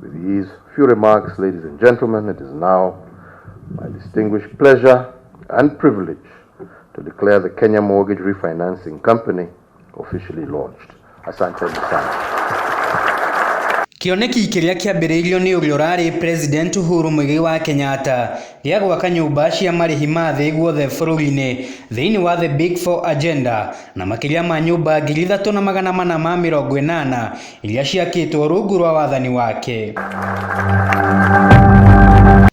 With these few remarks, ladies and gentlemen, it is now my distinguished pleasure and privilege to declare the Kenya Mortgage Refinancing Company officially launched. Asante sana. Kĩoneki kĩrĩa kĩambĩrĩirio nĩ ũrĩa ũrarĩ President Uhuru Muigai wa Kenyatta gĩa gwaka nyũmba cia marĩhi ma thĩ guothe bũrũri-inĩ thĩinĩ wa The Big Four Agenda na makĩria ma nyũmba ngiri ithatũ na magana mana ma mĩrongo ĩnana Iria ciakĩtwo rungu rwa wathani wake.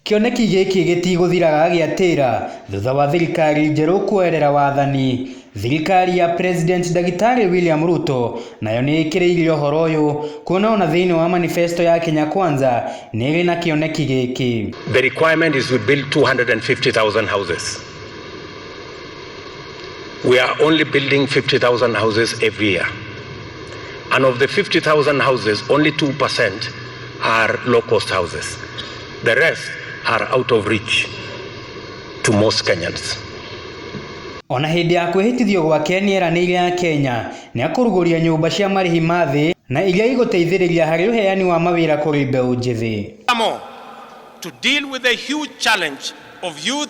Kĩoneki gĩkĩ gĩtigũthiraga gĩatĩra thutha wa thirikari njerũ kũerera wathani. Thirikari ya President Ndagĩtarĩ William Ruto nayo nĩ ĩkĩrĩire ũhoro ũyũ kuona ona thĩinĩ wa manifesto ya Kenya Kwanza nĩ ĩrĩ na kĩoneki gĩkĩ. The requirement is to build 250,000 houses. We are only building 50,000 houses every year. And of the 50,000 houses, only 2% are low cost houses. The rest are out of reach to most Kenyans. Ona hĩndĩ ya kwĩhĩtithio gwake nĩeranĩire ya Kenya nĩakũrugũria nyũmba cia marĩhi ma thĩ na iria igũteithĩrĩria harĩ ũheani wa mawĩra kũrĩ mbeũ njĩthĩ. Furthermore, to deal with the huge challenge of youth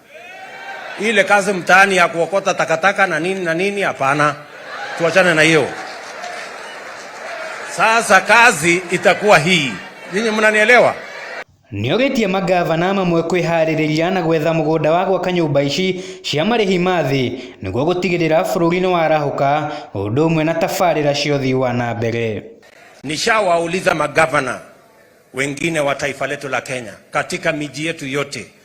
Ile kazi mtaani ya kuokota takataka na nini na nini, hapana, tuachane na hiyo. Sasa kazi itakuwa hii, nyinyi mnanielewa? Nĩogetie mangavana mamwe kwĩharĩrĩria na gwetha mũgũnda wa gwaka nyũmba ici cia marĩhi ma thĩ nĩguo gũtigĩrĩra bũrũri nĩwarahũka ũndũ ũmwe na tabarĩra cia ũthii wa na mbere. Nishawauliza magavana wengine wa taifa letu la Kenya katika miji yetu yote